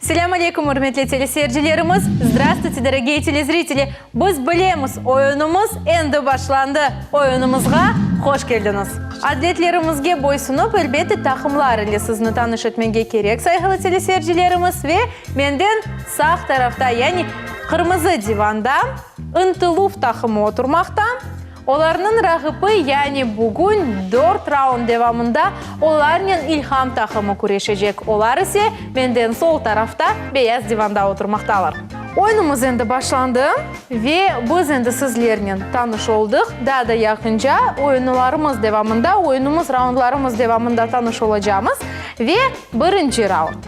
Selâm aleykum, ürmetli teleseyircilerimiz! Zdravstvuyte, dorogiye telezriteli! Biz bilemiz, oyunımız endi başlandı! Oyunımızğa hoş keldiñiz! Adetlerimizge boysunıp, elbette, taqımlar ile sizni tanış etmege kerek, sayğılı teleseyircilerimiz, ve menden sağ tarafta, yani qırmızı divanda, Intıluv taqımı oturmaqta. Olarnıñ raqibi, yani bugün dört raund devamında olarnen İlham taqımı küreşecek, olar ise menden sol tarafta beyaz divanda oturmaqtalar. Oyunımız endi başlandı ve biz endi sizlernen tanış oldıq. Daa da yaqınca oyunlarımız devamında, oyunımız raundlarımız devamında tanış olacağımız ve birinci raund.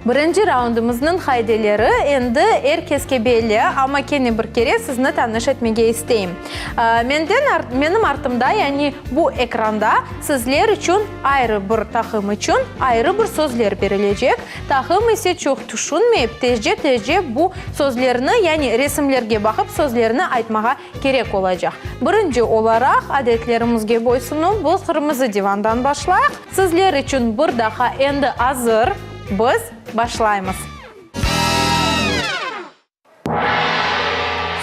Birinci raundımıznıñ qaideleri endi er keske belli, amma kene bir kere sizni tanış etmege isteyim. Menden, menim artımda, yani bu ekranda sizler içün ayrı bir taqım içün ayrı bir sözler berilecek, taqım ise çoq tüşünmeyip, tezce-tezce bu sözlerni, yani resimlerge baqıp sözlerni aytmağa Kerek olacaq. Birinci olaraq, adetlerimizge boysunuv, bu Qırmızı divandan başlayıq. Sizler içün bir daha endi azır, biz başlaymız.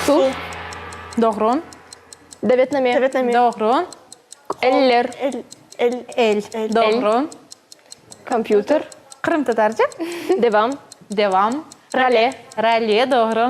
Suv. Doğru. Davetname. Davetname. Doğru. Eller. El. El. El. Doğru. Kompyuter. Qırımtatarca. Devam. Devam. Rale. Rale. Doğru.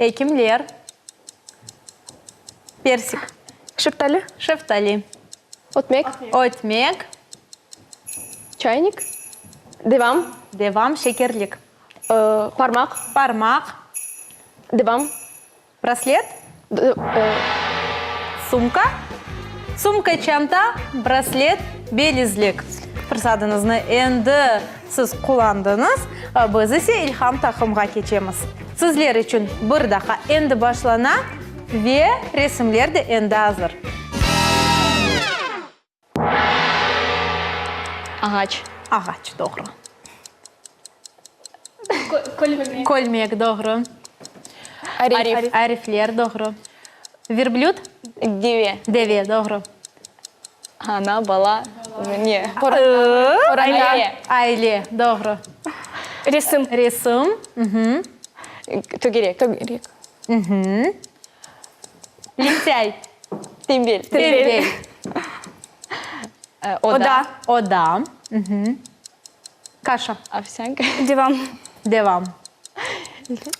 Ekimler, persik. Şeftali. Şeftali. Ötmek. Ötmek. Çaynik. Devam. Devam, şekerlik. Parmaq. Parmaq. Devam. Braslet. Sumka. Sumka, çanta, braslet, belizlik. Fırsadıñıznı endi. Siz qullandıñız, biz ise İlham Taqımğa keçemiz. Sizler içün bir daha endi başlana ve resimler de endi azır. Ağaç. Ağaç, doğru. Kölmek. Kölmek, doğru. Arif. Arifler, doğru. Verblüt. Deve. Deve, doğru. Ana, bala, mine. Aile. Aile, doğru. Resim. Resim. Tögerek. Tögerek. Lintây. Tembel. Tembel. Oda. Oda. Kaşa. Ovsânka. Devam. Devam.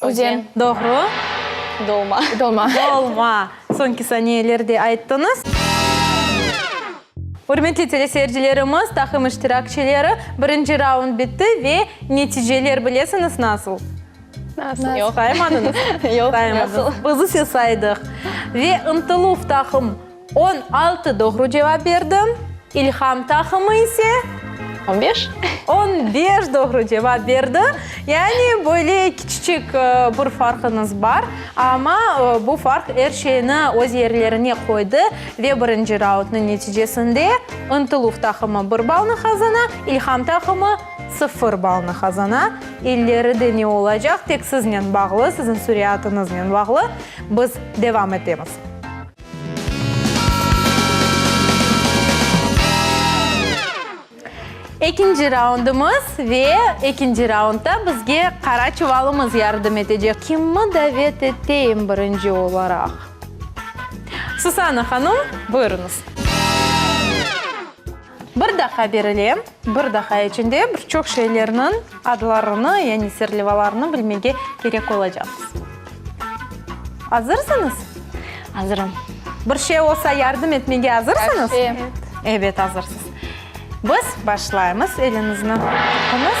Özen. Doğru. Dolma. Dolma. Dolma. Soñki saniyelerde ayttıñız. Ürmetli teleseyircilerimiz, taqım iştirakçileri, birinci raund bitti ve neticeler bilesiñiz nasıl? Nasıl? Yoq. Saymadınız? Yoq. Saymadınız. Nasıl? Biz ise saydıq. Ve Intıluf taqım. On altı doğru cevap berdi. İlham taqımı ise. On beş. On beş doğru cevap berdi. Yani böyle kiçicik bir farqıñız bar. Amma bu farq er şeyni öz yerlerine qoydı ve birinci raundnıñ neticesinde Intılıv taqımı bir balnı qazana, İlham taqımı sıfır balnı qazana. İlleri de ne olacaq, tek siznen bağlı, siziñ sürâtıñıznen bağlı. Biz devam etemiz. Ekinci raundımız ve ekinci raundta bizge qara çuvalımız yardım etecek. Kimmi davet eteyim birinci olaraq? Susana hanım, buyurıñız. Bir daha berile, bir daha içinde bir çoq şeylerniñ adlarını, yani serlevalarını bilmege kerek olacaqsız. Azırsıñız? Azırım. Bir şey olsa yardım etmege azırsıñız? Her şey. Ebet, azırsız. Biz başlaymız, eliñizni tuttuñız.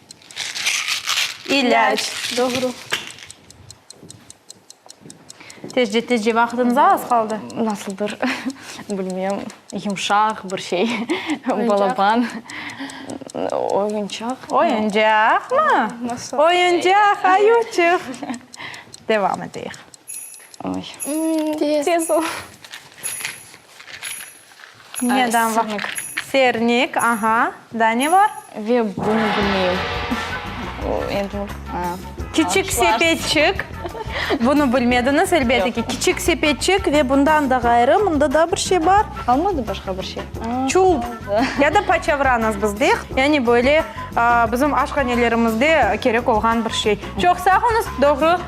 İlâc. Doğru. Tez ce, tez ce, vaqıtımız az qaldı. Nasıl bir, bilmem, yumşaq bir şey, balaban, oyuncaq. Oyuncaqmı? Oyuncaq, ayuçıq. Devam eteyik. Oy. Tez ol. Neden var? Sırnik. Sırnik, aha. Daa ne var? Ve bunı bilmeyim. Endi bu. Kiçik sepetçik. Bunı bilmediñiz, elbette ki. Kiçik sepetçik ve bundan da ğayrı, mında daa bir şey bar. Qalmadı başqa bir şey? Çulp. Ya da paçavranız biz deyiq. Yani böyle bizim aşhanelerimizde kerek olğan bir şey. Çoq sağ olunız, doğru.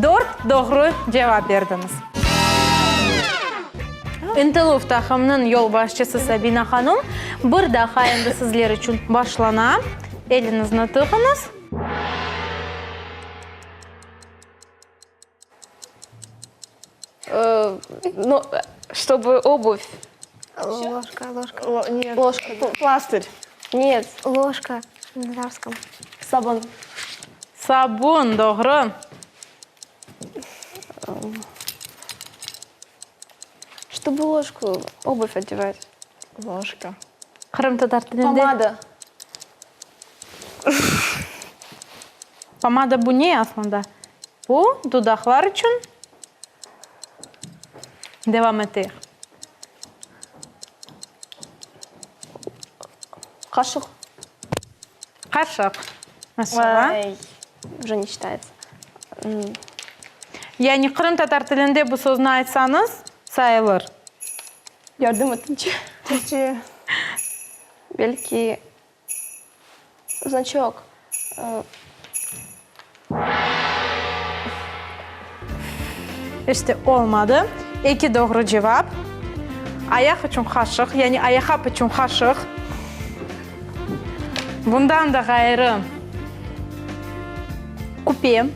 Dört doğru cevap berdiñiz. İntiluf taqımnıñ yolbaşçısı Sabina hanum, bir daha endi sizler içün başlana, eliñizni tığıñız. No, ştobu obüv. Loşka, loşka. Lo, ne? Loşka. Plastır. Net. Loşka, na ruskom. Sabun. Sabun, doğru. Ştobu loşku obuf odevat. Loşka. Qırımtatar tilinde. Pomada. Pomada bu ne aslında? Bu dudaqlar içün. Devam eteyik. Qaşıq. Qaşıq. Yani qırımtatar tilinde bu sözni aytsañız, sayılır. Yardım et, Türkçe. Belki, znaçok. İşte, olmadı. Eki doğru cevap. Ayaq içün qaşıq, yani ayaqap içün qaşıq. Bundan da ğayrı, küpe,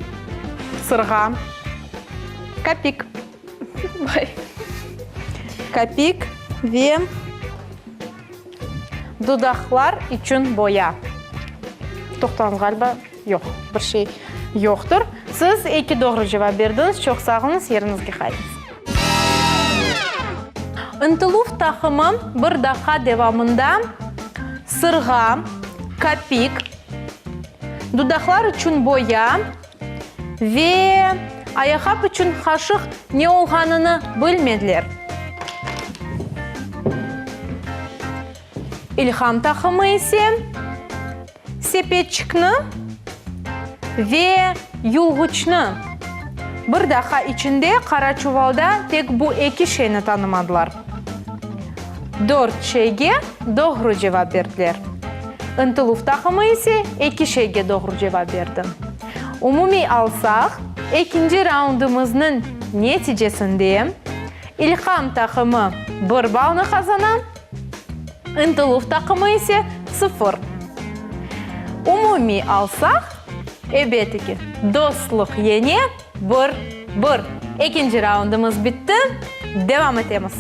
sırğa, kapik, kapik ve dudaqlar içün boya. Toqtağız ğaliba. Yoq, bir şey yoqtır. Siz eki doğru cevap berdiñiz. Çoq sağ oluñız, yeriñizge qaytıñız. Intiluv taqımı bir daqiqa devamında sırğa, kapik, dudaqlar içün boya ve ayaqap içün qaşıq ne olğanını bilmediler. İlham taqımı ise. Sepetçikni ve yulğuçnı. Bir daha içinde qara çuvalda tek bu eki şeyni tanımadılar. Dört şeyge doğru cevap berdiler. İntiluv taqımı ise eki şeyge doğru cevap berdi. Umumiy alsaq, ekinci raundımıznıñ neticesinde İlham taqımı bir balnı qazana, İntiluv taqımı ise, sıfır. Umumiy alsaq, ebeti ki, dostluq yene bir, bir. Ekinci raundımız bitti, devam etemiz.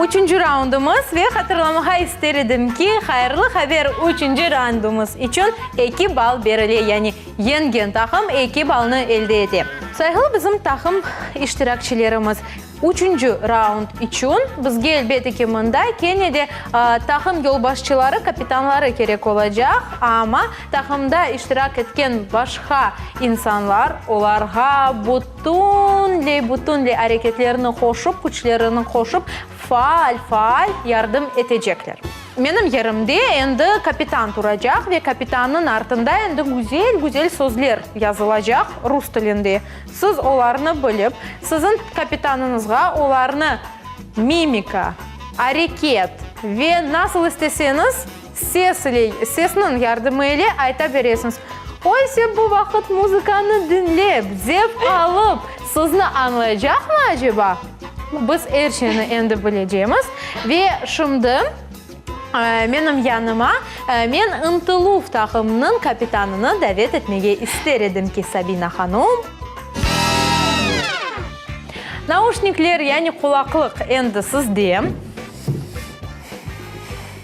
Üçünci raundımız ve hatırlamağa ister edim ki, hayırlı haber üçünci raundımız içün eki bal berile, yani yengen taqım eki balnı elde ete. Sayğılı bizim taqım iştirakçilerimiz, üçünci raund içün bizge elbette ki, mında kene de taqım yolbaşçıları, kapitanları kerek olacaq, amma taqımda iştirak etken başqa insanlar, olarğa bu. Tünley, bütünley areketlerini qoşıp, küçlerini qoşıp, faal, faal yardım etecekler. Menim yerimde endi kapitan turacaq ve kapitannıñ artında endi güzel, güzel sözler yazılacaq rus tilinde. Siz olarnı bilip, siziñ kapitanıñızğa olarnı mimika, areket ve nasıl isteseñiz, Ses ile, sesniñ yardımı ile ayta beresiñiz. Oysa bu vaqıt muzıkanı diñlep, zevq alıp, sizni añlaycaqmı aceba? Biz er şeyni endi bilecemiz. Ve şimdi menim yanıma men Intıluv taqımınıñ kapitanını davet etmege ister edim ki, Sabina hanum. Nauşnikler, yani qulaqlıq endi sizde.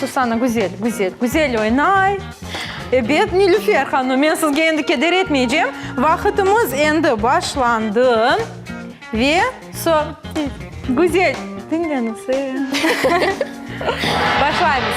Susana, güzel, güzel, güzel oynay. Ebet, Nilüfer hanım, men sizge endi keder etmeycem. Vaqıtımız endi başlandı. Ve so, güzel, diñleniñ, başlaymız.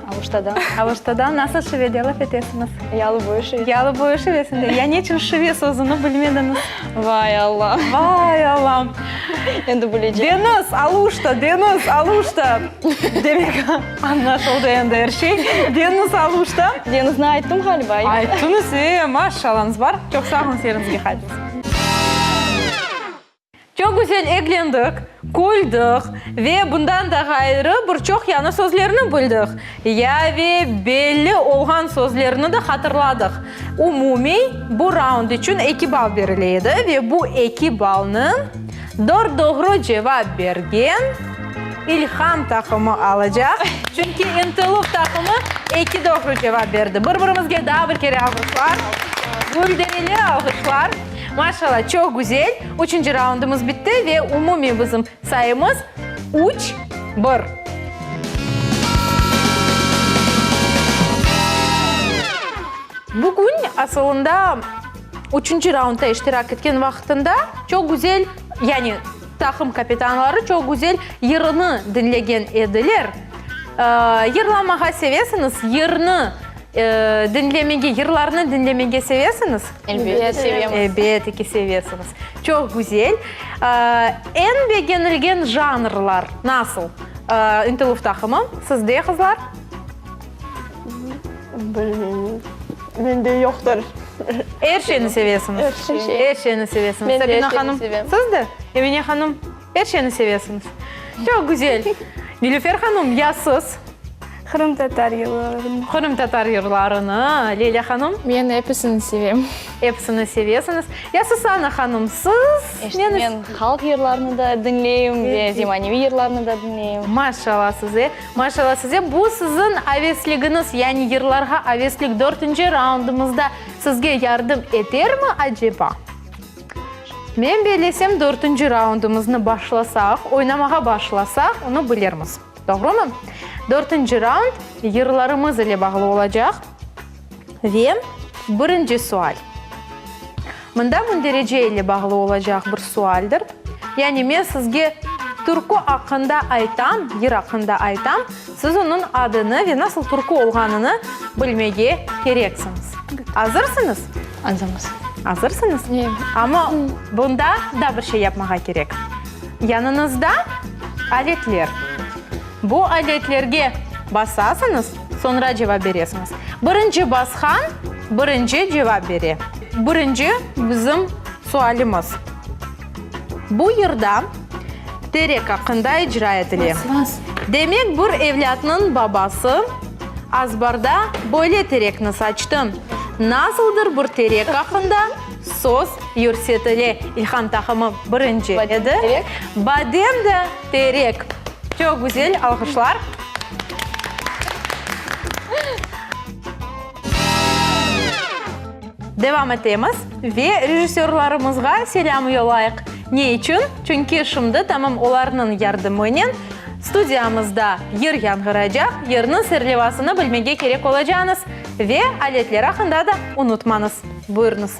Avuştada. Avuştada nasıl şivede laf etesiñiz? Ya luboy şive. Ya luboy şive sinde. Ya neçün şive sözüni bilmediñiz? Vay Alla. Vay Alla. Endi bilecem. Deñiz, Aluşta, deñiz, Aluşta. Demek, añlaşıldı endi er şey. Deñiz, Aluşta. Deñizni ayttım ğaliba. Ayttıñız, e, maşşallañız bar. Çoq sağ oluñ, seriñizge qaytıñız. Çoq güzel eglendik, küldük ve bundan da ğayrı bir çoq yañı sözlerni bildik ya ve belli olğan sözlerni de hatırladıq. Umumiy, bu raund içün eki ball berile edi ve bu eki ballnı dört doğru cevap bergen İlham taqımı alacaq, çünki İntilup taqımı eki doğru cevap berdi. Bir-birimizge daa bir kere alğışlar, gülderili alğışlar. Maşalâ, çoq güzel! Üçünci raundımız bitti ve umumiy bizim sayımız, üç, bir. Bugün, asılında, üçünci raundta iştirak etken vaqıtında çoq güzel, yani taqım kapitanları çoq güzel yırını diñlegen ediler. Yırlamağa sevesiñiz? Yırnı diñlemege, yırlarnı diñlemege sevesiñiz? Elbette sevemiz. Elbette ki, sevesiñiz. Çoq güzel. Eñ begenilgen janrlar nasıl? İntiluf taqımı, sizde, qızlar? Bilmeymiz. Mende yoqtır. Er şeyni sevesiñiz. Er şeyni. Er şeyni sevesiñiz. Sabina hanım, siz de? Emine hanım. Er şeyni sevesiñiz. Çoq güzel. Nilüfer hanum, ya siz? Qırımtatar yırlarını. Qırımtatar yırlarını. Leyla hanum? Men episini sevem. Episini sevesiñiz. Ya Susana hanum, siz? İşte men halq yırlarını da diñleyim ve zemaneviy yırlarını da diñleyim. Maşallah size, maşallah size. Bu siziñ avesligiñiz, yani yırlarğa aveslik dörtünci raundımızda sizge yardım etermi aceba? Men bellesem, dörtünci raundımıznı başlasaq, oynamağa başlasaq, onı bilirmiz. Doğrumı? Dörtünci raund yırlarımız ile bağlı olacaq. Ve birinci sual. Mında münderece ile bağlı olacaq bir sualdir. Yani men sizge türkü aqqında aytam, yır aqqında aytam, siz onıñ adını ve nasıl türkü olğanını bilmege kereksiñiz. Azırsıñız? Azırmız. Azırsıñız? Ye. Amma bunda daa bir şey yapmağa kerek. Yanıñızda aletler. Bu aletlerge basasıñız, soñra cevap beresiñiz. Birinci basqan, birinci cevap bere. Birinci bizim sualimiz. Bu yırda terek aqqında icra etile. Demek, bir evlâtnıñ babası azbarda böyle terekni saçtı. Nasıldır bir terek aqqında söz yürsetile. İlham taqımı birinci edi. Badem de terek. Çoq güzel, alqışlar. Devam etemiz ve rejissörlarımızğa selâm yollayıq. Ne içün? Çünki şimdi tamam olarnıñ yardımınen studiyamızda yır yanğıraycaq, yırnıñ serlevasını bilmege kerek olacañız ve aletler aqqında da unutmañız. Buyurıñız.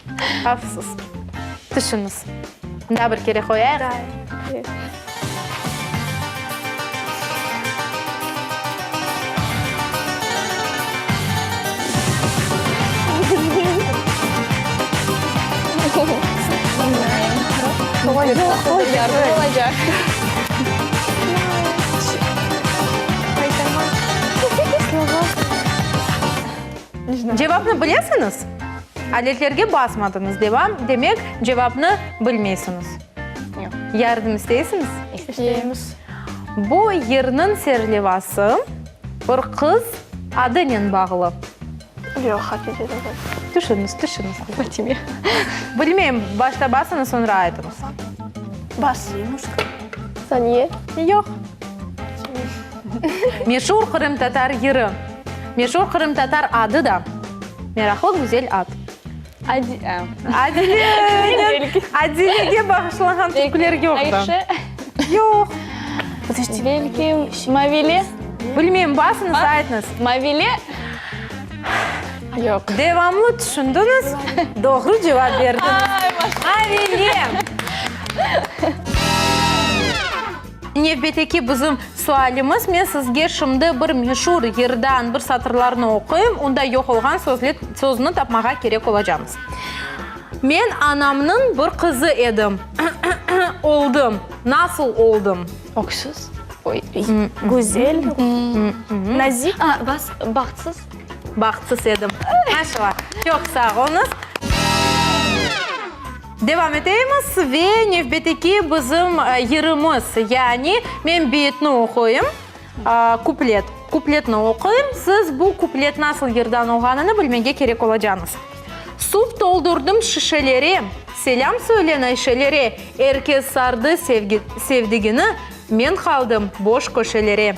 Afsus. Tüşüñiz. Daa bir kere qoyayıq. Daa bir kere. Cevapnı bilesiñiz? Adetlerge basmadıñız, devam, demek, cevapnı bilmeysiñiz. Yoq. Yardım isteysiñiz? İsteymiz. Bu yırnıñ serlevası bir qız adınen bağlı. Yoq, haqiqiy degil. Tüşüñiz, tüşüñiz. Fatime. Bilmeyim, başta basıñız, soñra aytıñız. Bas. Saniye. Yoq. Meşur qırımtatar yırı. Meşur qırımtatar adı da. Meraqlı güzel ad. Adile. Adilege bağışlanğan türküler yoqtı. Ayşe. Yoq. Belki Mavile. Bilmeyim, basıñız, aytıñız. Mavile. Yoq. Devamlı tüşündiñiz, doğru cevap berdiñiz. Mavile. Nevbeteki bizim sualimiz, men sizge şimdi bir meşur yırdan bir satırlarnı oquyım, unda yoq olğan sözler, sözüni tapmağa kerek olacağımız. Men anamnıñ bir qızı edim, oldım, nasıl oldım? Öksüz, oy, güzel, nazik, bahtsız. Bahtsız edim. Maşallah, çoq sağ olunız. Devam eteymiz ve nevbeteki bizim yırımız, yani men beyitni oquyım, kuplet, kupletni oquyım, siz bu kuplet nasıl yırdan olğanını bilmege kerek olacağıñız. Suv toldurdım şişelere, selâm söyle nayşelere, er kes sardı sevgi, sevdigini, men qaldım boş köşelere.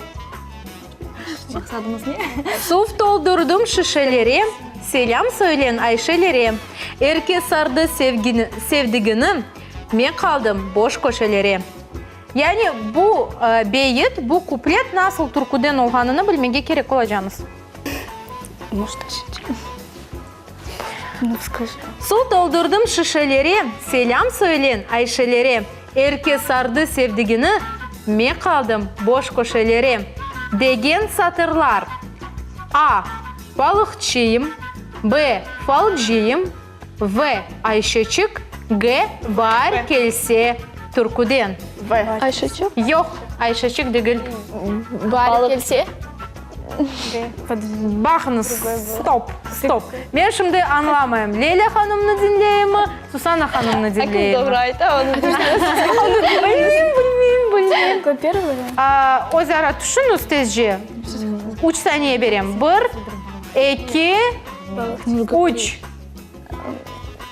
Maqsadımız ne? Suv toldurdım şişelere, Selâm söyleñ Ayşelere. Er kes sardı sevdigini, Men qaldım boş köşelere. Yani bu beyit, bu kuplet nasıl türküden olğanını bilmege kerek olacağımız. Su toldurdım şişelere, Selâm söylen Ayşelere. Er kes sardı sevdigini, Me qaldım boş köşelere. Degen satırlar. A. Balıqçıyım B. Falcıyım V. Ayşeçik G. Baar kelse türküden. V. Ayşeçik? Yoq, Ayşeçik degil. Baar kelse? Baqıñız, stop, stop. Men şimdi añlamayım, Leyla hanımnı diñleyimmi, Susana hanımnı diñleyimmi? Kim doğru ayta, onı diñleyim. Bilmeyim, bilmeyim, bilmeyim. Qo, первıy variant. Aa, öz ara tüşüñiz tezce. Üç saniye berem. Bir, eki, üç.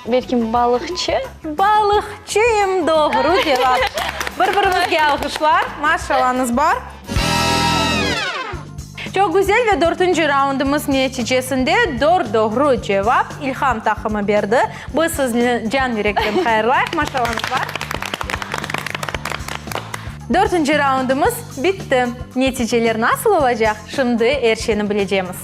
Belki balıqçı? Balıqçıyım, doğru cevap. Bir birimizge alğışlar. Maşşalañız bar. Çoq güzel ve dörtünci raundımız neticesinde dört doğru cevap İlham taqımı berdi. Biz sizni can yürekten hayırlayıq. Maşşalañız bar. Dörtünci raundımız bitti. Neticeler nasıl olacaq, şimdi er şeyni bilecemiz.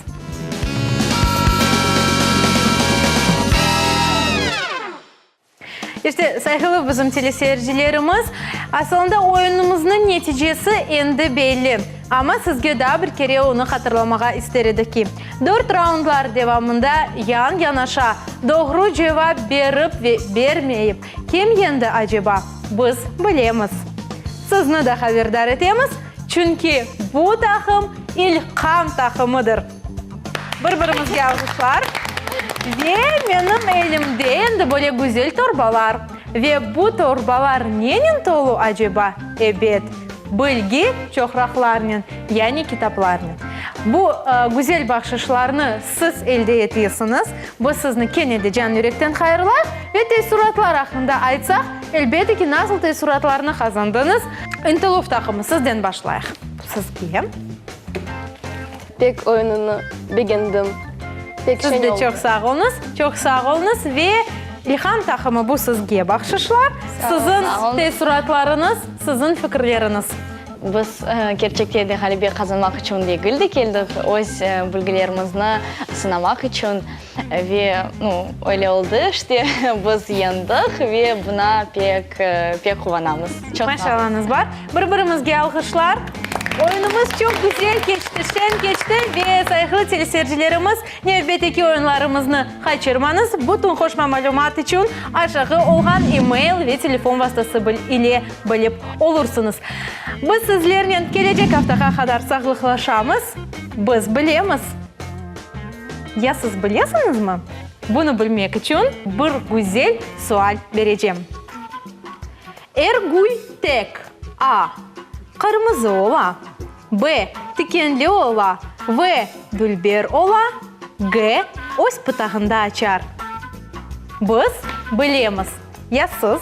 İşte, sayğılı bizim teleseyircilerimiz, asılında oyunımıznıñ neticesi endi belli. Amma sizge daa bir kere onı hatırlamağa ister edik ki, dört raundlar devamında yan-yanaşa doğru cevap berip ve bermeyip, Kim yendi aceba? Biz bilemiz. Sizni de haberdar etemiz, çünki bu taqım İlkam taqımıdır. Bir-birimizge alğışlar. Ve menim elimde endi böyle güzel torbalar. Ve bu torbalar nenen tolu aceba? Ebet, bilgi çoqraqlarnen, yani kitaplarnen. Bu güzel bahşışlarnı. Siz elde etesiñiz. Biz sizni kene de can yürekten hayırlayıq. Ve teessuratlar aqqında aytsaq, elbette ki, nasıl teessuratlarnı qazandıñız? İntiluf taqımı, sizden başlayıq. Sizge. Pek oyunını begendim. Pek şeñ oldı. Siz de çoq sağ oluñız, çoq sağ oluñız. Ve İlham taqımı, bu sizge bahşışlar. Siziñ teessuratlarıñız, siziñ fikirleriñiz. Biz, kerçekte de, ğalebe qazanmaq içün degil de keldik, öz bilgilerimizni sınamaq içün. Ve, nu, öyle oldı, işte, biz yendik ve buna pek, pek quvanamız. Çoq sağ olunız. Maşallañız bar. Bir-birimizge alğışlar. Oyunımız çoq güzel keçti, şeñ keçti ve sayğılı teleseyircilerimiz, Nevbeteki oyunlarımıznı qaçırmañız, bütün qoşma malümat içün aşağı olğan e-mail ve telefon vastası ile bilip olursıñız. Biz sizlernen kelecek aftağa qadar sağlıqlaşamız. Biz bilemiz. Ya siz bilesiñizmi? Bunı bilmek içün bir güzel sual berecem. Er gül tek, a. Qırmızı ola. B. Tikenli ola V. Dülber ola G. Öz pıtağında açar Biz bilemiz, ya siz?